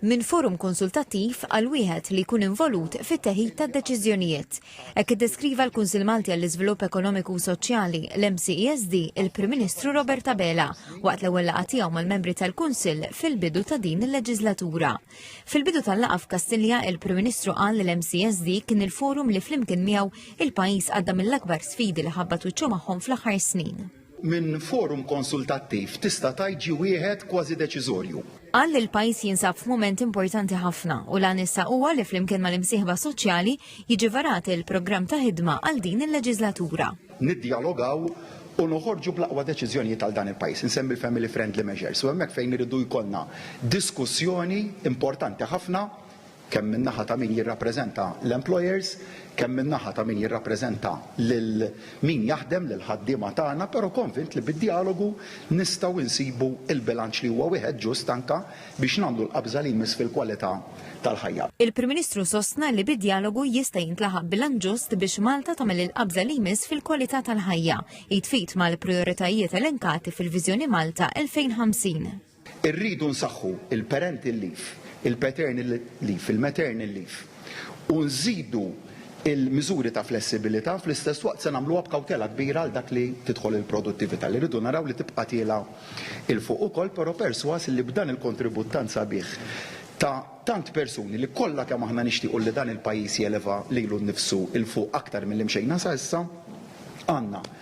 minn forum konsultattiv għal wieħed li jkun involut fit-teħid tad-deċiżjonijiet. Hekk iddeskriva l-Kunsill Malti għall-Iżvilupp Ekonomiku u Soċjali, l-MCESD, il-Prim Ministru Robert Abela, waqt l-ewwel laqgħa tiegħu mal-membri tal-Kunsill fil-bidu ta' din il-leġiżlatura. Fil-bidu tal-laqgħa f'Kastilja, il-Prim Ministru qal li l-MCESD kien il-forum li flimkien miegħu il-pajjiż għadda mill-akbar sfidi li ħabbat wiċċu magħhom fl-aħħar snin. minn forum konsultattiv tista' tgħid ġie wieħed kważi deċiżorju. Qal li l-pajjiż jinsab f'mument importanti ħafna u l-għan issa huwa li flimkien mal-imsieħba soċjali jiġi varat il-programm ta' ħidma għal din il-leġiżlatura. Niddjalogaw u noħorġu bl-aqwa deċiżjonijiet għal dan il-pajjiż, insemmi l-family friendly measures, u hemmhekk fejn iridu jkollna diskussjoni importanti ħafna kemm min-naħa ta' min jirrappreżenta l-employers, kemm min-naħa ta' min jirrappreżenta lil min jaħdem, lill-ħaddiema tagħna, però konvint li bid-djalogu nistgħu nsibu l-bilanċ li huwa wieħed ġust anke biex nagħmlu l-qabża li jmiss fil-kwalità tal-ħajja. Il-Prim Ministru sostna li bid-djalogu jista' jintlaħaq bilanċ ġust biex Malta tagħmel il-qabża li jmiss fil-kwalità tal-ħajja, id f'id mal-prijoritajiet elenkati fil-Viżjoni Malta 2050. Irridu nsaħħu l-parental leave, il-paternal leave, il-maternal leave u nżidu l-miżuri ta' flessibilità, fl-istess waqt se nagħmluha b'kawtela kbira għal dak li tidħol il-produttività li rridu naraw li tibqa' tiela' 'l fuq ukoll, però persważ li b'dan il-kontribut tant sabiħ ta' tant persuni li kollha kemm aħna nixtiequ li dan il-pajjiż jeleva lilu nnifsu 'l fuq aktar milli mxejna sa issa, għandna.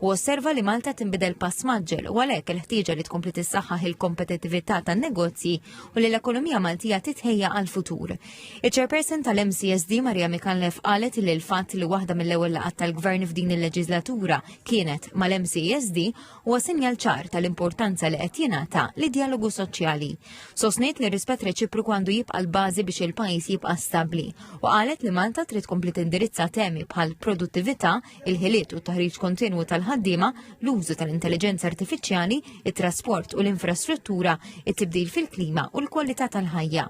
u osserva li Malta tinbidel pass maġġel u għalhekk il-ħtieġa li tkompli tissaħħaħ il-kompetittività tan-negozji u li l-ekonomija Maltija titħejja għall-futur. Iċ-Chairperson tal-MCSD Maria Mikanlef qalet li l-fatt li waħda mill-ewwel laqgħat tal-Gvern f'din il-leġislatura kienet mal-MCSD huwa sinjal ċar tal-importanza li qed jingħata li dialogu soċjali. Sosnejt li rispett reċipru għandu jibqa' l-bażi biex il-pajjiż jibqa' stabbli u qalet li Malta trid tkompli tindirizza temi bħal produttività il-ħiliet u t-taħriġ kontinwu tal-ħaddiema, l-użu tal-intelligenza artifiċjali, it-trasport u l-infrastruttura, it-tibdil fil-klima u l-kwalità tal-ħajja.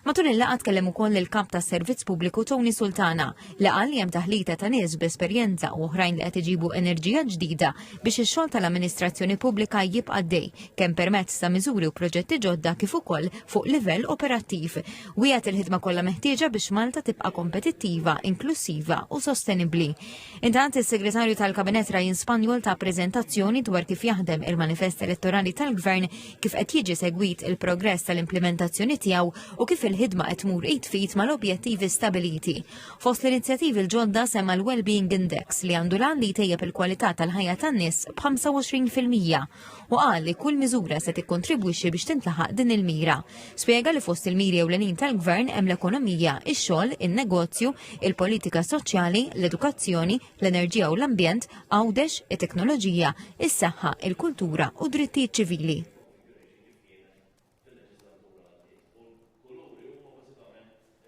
Matul il-laqgħa tkellem ukoll il-Kap tas-Servizz Pubbliku Tony Sultana li qal li hemm taħlita ta' nies b'esperjenza u oħrajn li qed iġibu enerġija ġdida biex ix-xogħol tal-amministrazzjoni pubblika jibqa' dej kemm permezz ta' miżuri u proġetti ġodda kif ukoll fuq livell operattiv. Wiegħed il-ħidma kollha meħtieġa biex Malta tibqa' kompetittiva, inklusiva u sostenibbli. Intant is-Segretarju tal-Kabinett Ryan Spanjol ta' preżentazzjoni dwar kif jaħdem il-manifest elettorali tal-Gvern, kif qed jiġi segwit il-progress tal-implementazzjoni tiegħu u kif il-ħidma qed tmur id fit mal-objettivi stabiliti. Fost l-inizjattivi l-ġodda semma l-Wellbeing Index li għandu l-għan li jtejjeb il-kwalità tal-ħajja tan-nies b'25%. u qal li kull miżura se tikkontribwixxi biex tintlaħaq din il-mira. Spjega li fost il-miri ewlenin tal-Gvern hemm l-ekonomija, ix-xogħol, in-negozju, il-politika soċjali, l-edukazzjoni, l-enerġija u l-ambjent, għawdex, it-teknoloġija, is-saħħa, il-kultura u drittijiet ċivili.